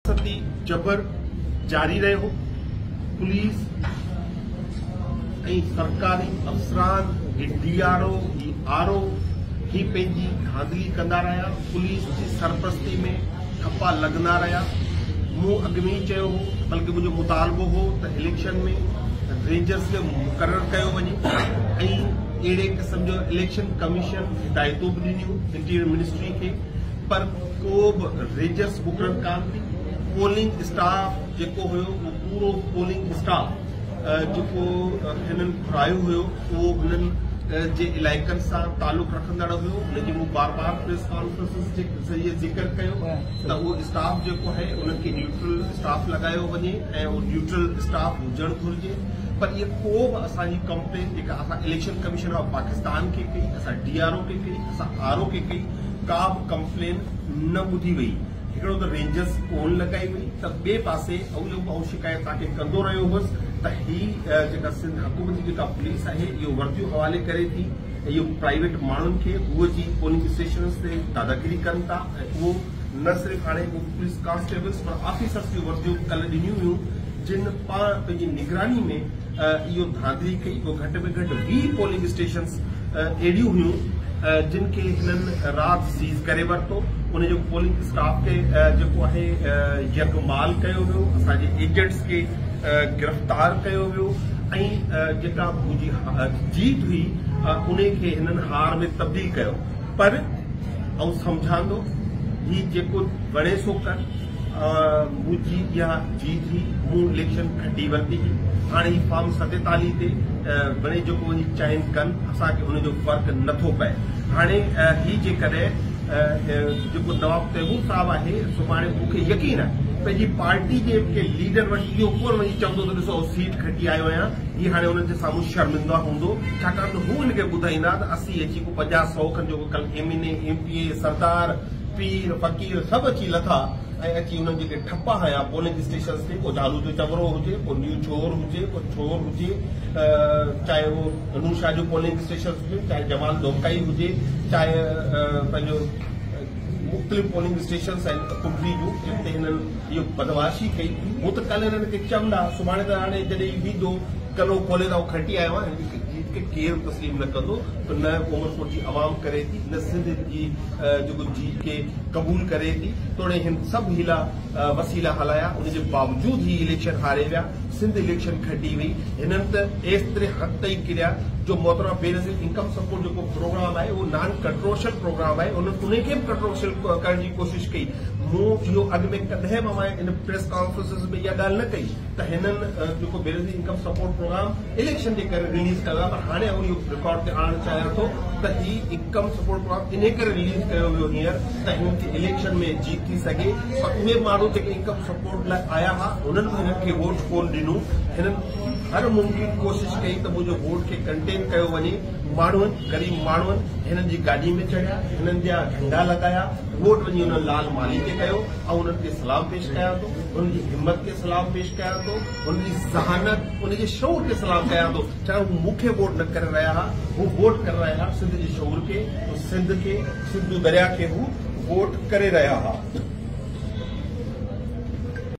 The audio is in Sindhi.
ستي جبر جاري رهيو، پوليس ۽ سرڪاري افسران هي ڊي آر او هي آر او هي پنهنجي ڌانڌلي ڪندا رهيا، پوليس جي سرپرستي ۾ ٺپا لڳندا رهيا، مون اڳ ۾ ئي چيو هو بلڪه منهنجو مطالبو هو ته اليڪشن ۾ رينجرز کي مقرر ڪيو وڃي ۽ اهڙي قسم جو اليڪشن ڪميشن هدايتون به ڏنيون انٽيريئر منسٽري کي پر ڪو به ريجرس مقرر ڪانه ٿي پولنگ اسٽاف جيڪو هيو اهو پورو پولنگ اسٽاف جيڪو هنن گهرايو هيو اهو هنن جي علائقن سان تعلق رکندڙ هيو ان جي مون بار بار پريس ڪانفرنسز جي ذريعي ذڪر ڪيو ته اهو اسٽاف جيڪو آهي انهن کي نيوٽرل اسٽاف لڳايو وڃي ۽ اهو نيوٽرل اسٽاف هجڻ گهرجي پر اها ڪو به اسان جي ڪمپلين جيڪا اسان اليڪشن ڪميشن آف پاڪستان کي ڪئي اسان ڊي آر او کي ڪئي اسان آر او کي ڪئي ڪا به ڪمپلين نه ٻڌي وئي، هڪڙو ته رينجرز ڪون لڳائي وئي ته ٻئي پاسي اهو اهو شڪايت توهان کي ڪندو رهيو هوس ته هي جيڪا سنڌ حڪومت جي جيڪا پوليس آهي اهو ورديون حوالي ڪري ٿي ۽ اهو پرائيويٽ ماڻهن کي هو جي پولنگ اسٽيشنز تي داداگيري ڪن ٿا ۽ اهو نه صرف هاڻي اهو پوليس ڪانسٽيبلز پر آفيسرز جون ورديون ڪلهه ڏنيون ويون جن پاڻ پنهنجي نگراني ۾ اهو ڌانڌلي ڪئي پوء گهٽ ۾ گهٽ ويهه پولنگ اسٽيشنز اهڙيون هيون جن کي هنن رات سيز ڪري ورتو ان جو پولنگ اسٽاف تي جيڪو آهي يرغمال ڪيو ويو اسان جي ايجنٽس کي گرفتار ڪيو ويو ۽ جيڪا منهنجي جيت هئي ان کي هنن هار ۾ تبديل ڪيو پر آئون سمجهان ٿو هي جيڪو وڻي سو ڪر منهنجي اها جيت هئي، مون اليڪشن کٽي ورتي هئي، هاڻي هي فارم ستيتاليهه تي مڙئي جيڪو وڃي چائن ڪن، اسان کي ان جو فرق نٿو پئي. هاڻي هي جيڪڏهن جيڪو نواب تيمور صاحب آهي، سڀاڻي مون کي يقين آهي، پنهنجي پارٽي جي ڪنهن ليڊر وٽ اهو ڪونه وڃي چوندو ته ڏسو آئون سيٽ کٽي آيو آهيان، هي هاڻي انهن جي سامهون شرمنده هوندو، ڇاڪاڻ ته هو هن کي ٻڌائيندا ته اسي اچي ڪو پنجاهه سئو کن جيڪو ڪلهه M N A, M P A, سردار، پير، فقير سڀ اچي لٿا ۽ اچي انهن جيڪي ٺپا هنيا پولنگ اسٽيشنز تي پوء جهالو جو چٻرو هجي پوء نيو چور هجي پوء ڇور هجي چاهي اهو نور شاهه جو پولنگ اسٽيشنز هجي چاهي جمال ڏوڪائي هجي چاهي پنهنجو مختلف پولنگ اسٽيشنز آهن ڪنڊري جون جن تي هنن اهو بدمعاشي ڪئي هو ته ڪل هنن کي چمندا سڀاڻي ته هاڻي جڏهن هي ويندو ڪلو کولي ته آئون کٽي آيو آهيان هن کي ڪير تسليم نه ڪندو ته نه عمرڪوٽ جي عوام ڪري ٿي نه سنڌ جي جيڪو جيت کي قبول ڪري ٿي توڙي هن سڀ حيلا وسيلا هلايا ان جي باوجود هي اليڪشن هاري ويا سنڌ اليڪشن کٽي وئي هنن ته ايستري حق تئي ڪريا جو محترمه بينظير انڪم سپورٽ جيڪو پروگرام آهي اهو نان ڪنٽروشل پروگرام آهي انهن ان کي به ڪنٽروشل ڪرڻ جي ڪوشش ڪئي مون اهو اڳ ۾ ڪڏهن به ان پريس ڪانفرنسز ۾ اها ڳالهه نه ڪئي ته هنن جيڪو Benazir income support programme election جي ڪري رليز ڪيو آهي ته هاڻي آئون اهو رڪارڊ تي آڻڻ چاهيان ٿو ته هي انڪم سپورٽ پروگرام انهي ڪري رليز ڪيو ويو هينئر ته هنن کي اليڪشن ۾ جيت ٿي سگهي پر اهي ماڻهو جيڪي انڪم سپورٽ لاء آيا ها هنن به هنن کي ووٽ ڪون ڏنو هنن هر ممڪن ڪوشش ڪئي ته منهنجو ووٽ کي ڪنٽين ڪيو وڃي ماڻهن غريب ماڻهن هنن جي گاڏي ۾ چڙهيا هنن جا جهنڊا لڳايا ووٽ وڃي هنن لال مالهي کي ڪيو ۽ هنن کي سلام پيش ڪيان ٿو ان جي همت کي سلام پيش ڪيان ٿو ان جي ذهانت ان جي شعور کي سلام ڪيان ٿو چاهي هو مون کي ووٽ نه ڪري رهيا ها هو ووٽ ڪري رهيا ها سنڌ جي شعور کي سنڌ کي سنڌو دريا کي هو ووٽ ڪري رهيا ها